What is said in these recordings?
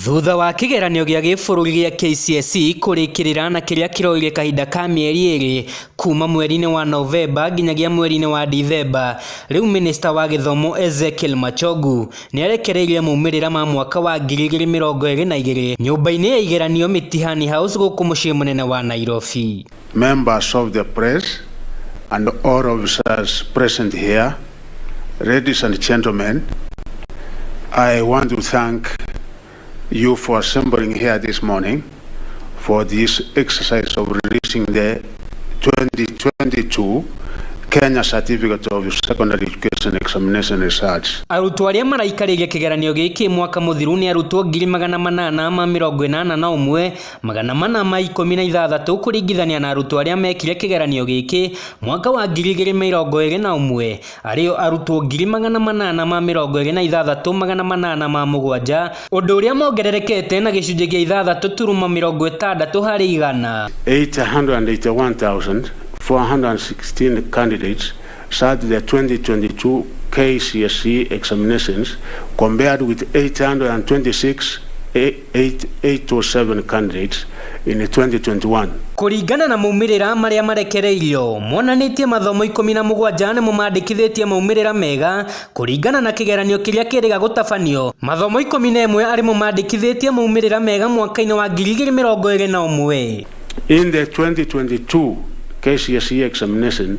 Thutha wa kĩgeranio gĩa gĩbũrũri gĩa KCSE kũrĩkĩrĩra na kĩrĩa kĩroire kahinda ka mĩeri ĩrĩ kuuma mweri-inĩ wa Novemba nginyagia mweri-inĩ wa Dithemba, rĩu mĩnĩcita wa gĩthomo Ezekiel Machogu nĩ arekereirie maumĩrĩra ma mwaka wa ngiri igĩrĩ mĩrongo ĩrĩ na igĩrĩ nyũmba-inĩ ya igeranio Mitihani House gũkũ mũciĩ mũnene wa Nairobi. Members of the press and all officers present here, ladies and gentlemen, I want to thank you for assembling here this morning for this exercise of releasing the 2022 Kenya Certificate of Secondary Education Examination Results. Arutwo arĩa maraikarĩria kĩgeranio gĩkĩ mwaka mũthiru nĩ arutwo ngiri magana manana ma mĩrongo ĩnana na ũmwe magana mana ma ikũmi na ithathatũ kũringithania na arutwo arĩa mekire kĩgeranio gĩkĩ mwaka wa ngiri igĩrĩ mĩrongo ĩrĩ na ũmwe arĩo arutwo ngiri magana manana ma mĩrongo ĩrĩ na ithathatũ magana manana ma mũgwanja ũndũ ũrĩa mongererekete na gĩcunjĩ gĩa ithathatũ turuma mĩrongo ĩtandatũ harĩ igana. 881,416 candidates sat the 2022 KCSE examinations compared with 826,800 807 candidates in 2021. Kũringana na maumĩrĩra marĩa marekereirio, monanĩtie mathomo ikũmi na mũgwanja nĩmo mandĩkithĩtie maumĩrĩra mega kũringana na kĩgeranio kĩrĩa kĩrĩga gũtabanio. Mathomo ikũmi na ĩmwe arĩmo mandĩkithĩtie maumĩrĩra mega mwaka-inĩ wa ngiri igĩrĩ mĩrongo ĩrĩ na ũmwe. In the 2022 KCSE examination,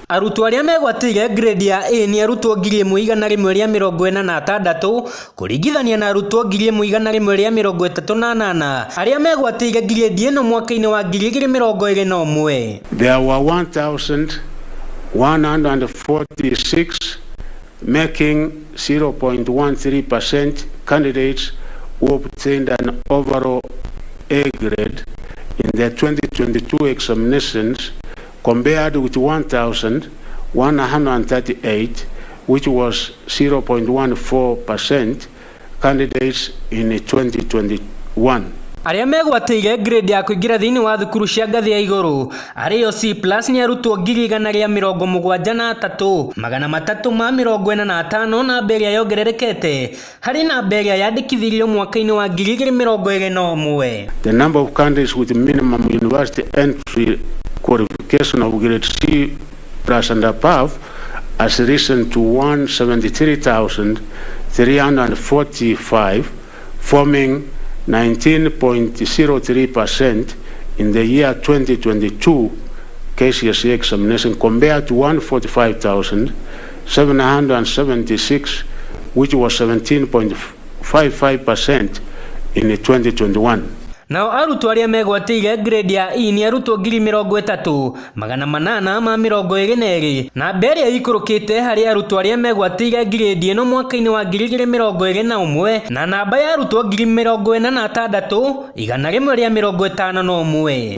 Arutwo arĩa megwatĩire ngirĩndi ya A nĩ arutwo ngiri ĩmwe igana rĩmwe rĩa mĩrongo ĩna na atandatũ kũringithania na arutwo ngiri ĩmwe igana rĩmwe rĩa mĩrongo ĩtatũ na anana arĩa megwatĩire ngirĩndi ĩno mwaka-inĩ wa ngiri igĩrĩ mĩrongo ĩrĩ na ũmwe. There were 1,146 making 0.13% candidates who obtained an overall A grade in the 2022 examinations compared to 1,138, which was 0.14% candidates in 2021. Arĩa megwatĩire grade ya kũingĩra thĩinĩ wa thukuru cia ngathĩ ya igũrũ arĩ yo C+ nĩ arutwo ngiri igana rĩa mĩrongo mũgwanja na atatũ, magana matatũ ma mĩrongo ĩna na atano namba ĩrĩa yongererekete Harĩ namba ĩrĩa yandĩkithirio mwaka-inĩ wa ngiri igĩrĩ mĩrongo ĩrĩ na ũmwe. The number of countries with minimum university entry qualification of grade C plus and above has risen to 173,345, forming 19.03% in the year 2022 KCSE examination compared to 145,000 776, which was 17.55% in 2021. Nao arutwo arĩa megwatĩire grade ya E nĩ arutwo ngiri mĩrongo ĩtatũ, magana manana ma mĩrongo ĩrĩ na erĩ. Namba ĩrĩa ĩikũrũkĩte harĩ arutwo arĩa megwatĩire grade ĩno mwaka-inĩ wa ngiri igĩrĩ mĩrongo ĩrĩ na ũmwe na namba ya arutwo ngiri mĩrongo ĩna na atandatũ, igana rĩmwe rĩa mĩrongo ĩtano na ũmwe.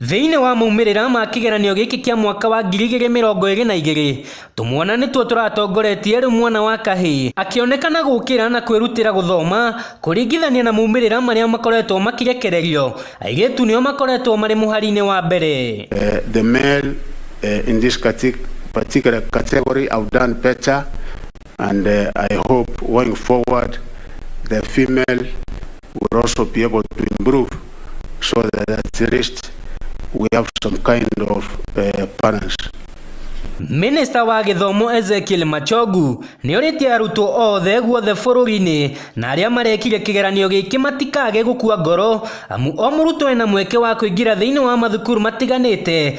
Thĩinĩ wa maumĩrĩra ma kĩgeranio gĩkĩ kĩa mwaka wa ngiri igĩrĩ mĩrongo ĩrĩ na igĩrĩ, tũmwana nĩtuo tũratongoretie rĩu mwana wa kahĩĩ akĩonekana gũkĩra na kwĩrutĩra gũthoma kũringithania na maumĩrĩra marĩa makoretwo makĩrekererio, airĩtu nĩo makoretwo marĩ mũhari-inĩ wa mbere. The male in this particular category have done better And uh, I hope going forward, the female will also be able to improve so that at least we have some kind of uh, balance. Minista wa gĩthomo Ezekiel Machogu nĩ orĩtie arutwo othe guothe bũrũri-inĩ na arĩa marekire kĩgeranio gĩkĩ matikage gũkua ngoro amu o mũrutwo ena mweke wa kũingĩra thĩinĩ wa mathukuru matiganĩte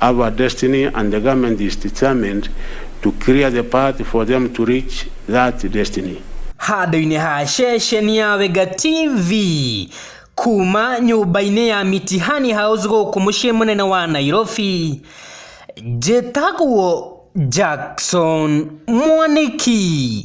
Our destiny and the government is determined to clear the path for them to reach that destiny. handũ-inĩ ha ceceni ya Wega TV kuma nyũmba-inĩ ya Mitihani House gũkũ mũciĩ mũnene wa Nairobi njĩtagwo Jackson Mwaniki